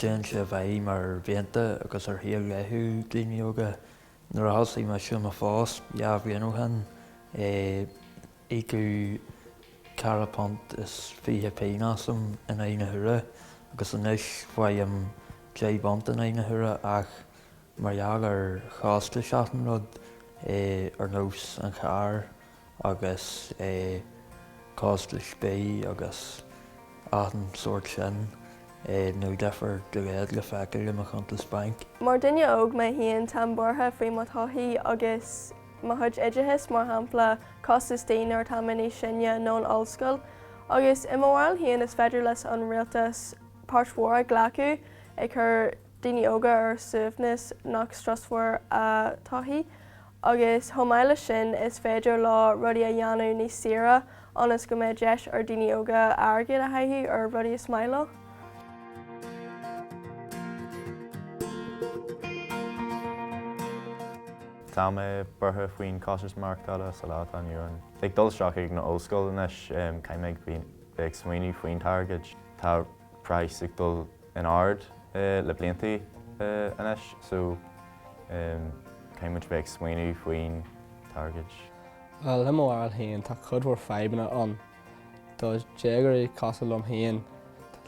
Téann sé i bhfeidhm ar mhianta agus ar shaol laethúil daoine óga. Nuair a thosaigh mise i mo phost dhá bhliain ó shin, íocadh ceithre phunt is fiche pingin asam in aghaidh na huaire agus anois faighim deich bpunt in aghaidh na huaire ach Mar gheall ar chostais achan rud, é ar nós an chairr agus é costais bídh agus achan sórt sin, é níl difear dá laghad le feiceáil i mo chuntas bainc. Mar duine óg mé féin táim buartha faoi mo thodhchaí agus mo chuid oideachais mar shampla costas tí nuair atá mé níos sine nó an ollscoil. Agus i mo bharúil féin is féidir leis an rialtas páirt mhór a ghlacadh ag cur daoine óga ar suaimhneas nach strusmhar a dtodhchaí agus chomh maith leis sin is féidir leo rudaí a dhéanamh níos saoire ionas go mbeidh deis ar daoine óga airgead a chaitheamh ar rudaí is maith leo. Tá mé buartha faoin costas maireachtála sa lá atá inniu ann. Ag dul isteach ag an ollscoil anois, caithfidh mé bheith ag smaoineamh faoin t-airgead. Tá praghas ag dul in airde le blianta anois so caithfidh muid a bheith ag smaoineamh faoin t-airgead. Le mo bharúil féin tá cuid mhór fadhbanna ann do dhéagóirí cosúil liom féin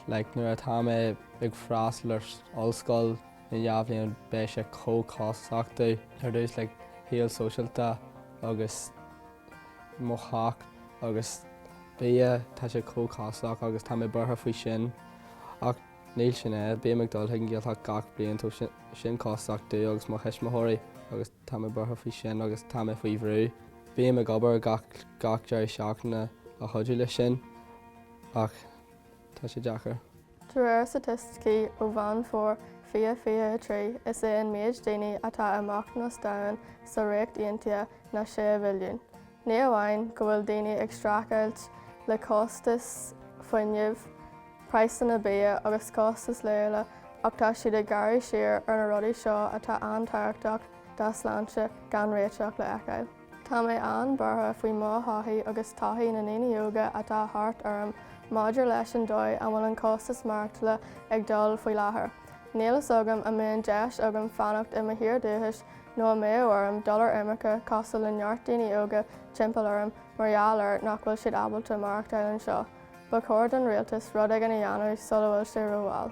like nuair atá mé ag freastal ar ollscoil in dhá bhliain beidh sé chomh costasach domh ar dtús like shaol sóisialta agus mo theach agus bia tá sé chomh costasach agus tá mé buartha faoi sin. Ach níl sin é. Bím ag dul chuig an Ghaeltacht gach bliain tá sin costasach domh agus mo thuismitheoirí agus tá mé buartha faoi sin agus tá mé faoi bhrú. Bím ag obair gach deireadh seachtaine a chuidiú leis sin ach tá sé deacair. De réir staitisticí ó Mheán Fómhair 2023, is é an méid daoine atá i mbochtanas domhain sa Ríocht Aontaithe ná 6 mhilliún. Ní amháin go bhfuil daoine ag streachailt le costas fuinnimh, praghsanna bia agus costais laethúla ach tá siad ag gearradh siar ar na rudaí seo atá an-tábhachtach dá sláinte gan réiteach le fheiceáil. Tá mé an-buartha faoi mo thodhchaí agus todhchaí na ndaoine óga atá thart orm maidir leis an dóigh a bhfuil an costas maireachtála ag dul faoi láthair. Níl fhios agam an mbeidh an deis agam fanacht i mo thír dúchais nó an mbeidh orm dul ar imirce cosúil le neart daoine óga timpeall orm mar gheall air nach bhfuil siad ábalta maireachtáil anseo, ba chóir don rialtas rud éigin a dhéanamh sula bhfuil sé rómhall.